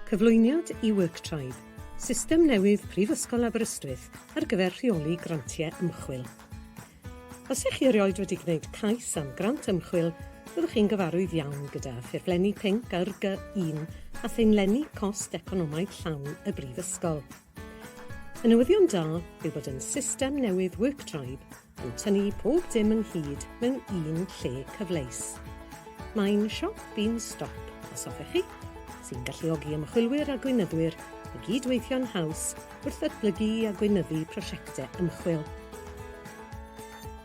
Cyflwyniad i WorkTribe, system newydd Prifysgol Aberystwyth ar gyfer rheoli grantiau ymchwil. Os ych chi erioed wedi gwneud cais am grant ymchwil, byddwch chi'n gyfarwydd iawn gyda ffurflenni pinc ar Gy1 a theinlenni cost economaidd llawn y Brifysgol. Y newyddion da yw bod yn system newydd WorkTribe yn tynnu pob dim ynghyd mewn un lle cyfleus. Mae'n siop bin stop, os hoffech chi, sy'n galluogi ymchwilwyr a gweinyddwyr i gyd-weithio'n haws wrth ddatblygu a gweinyddu prosiectau ymchwil.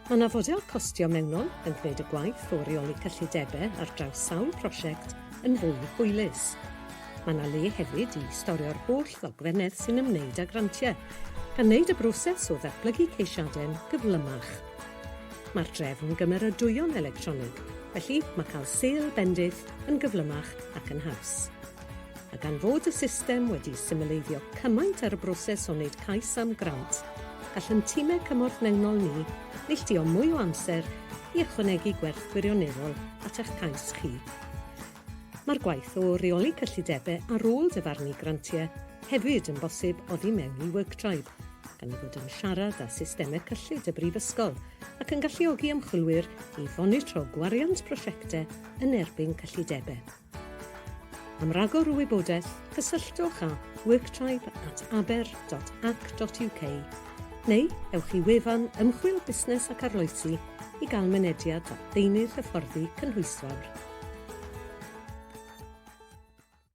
Mae yna fodel costio mewnol yn gwneud y gwaith o reoli cyllidebau ar draws sawl prosiect yn fwy hwylus. Mae yna le hefyd i storio'r holl ddogfennau sy'n ymwneud â grantiau, gan wneud y broses o ddatblygu ceisiadau'n gyflymach. Mae'r drefn gymeradwyo'n electronig, felly mae cael sêl bendith yn gyflymach ac yn haws. A gan fod y system wedi symleiddio cymaint ar y broses o wneud cais am grant, gall ein timau cymorth mewnol ni neilltuo mwy o amser i ychwanegu gwerth gwirioneddol at eich cais chi. Mae'r gwaith o reoli cyllidebau ar ôl dyfarnu grantiau hefyd yn bosib oddi mewn i WorkTribe, gan ei fod yn siarad â systemau cyllid y Brifysgol ac yn galluogi ymchwilwyr i fonitro gwariant prosiectau yn erbyn cyllidebau. Am ragor o wybodaeth, cysylltwch â worktribe at aber.ac.uk Neu ewch i wefan Ymchwil Busnes ac Arloesi i gael mynediad at ddeunydd hyfforddi cynhwysfawr.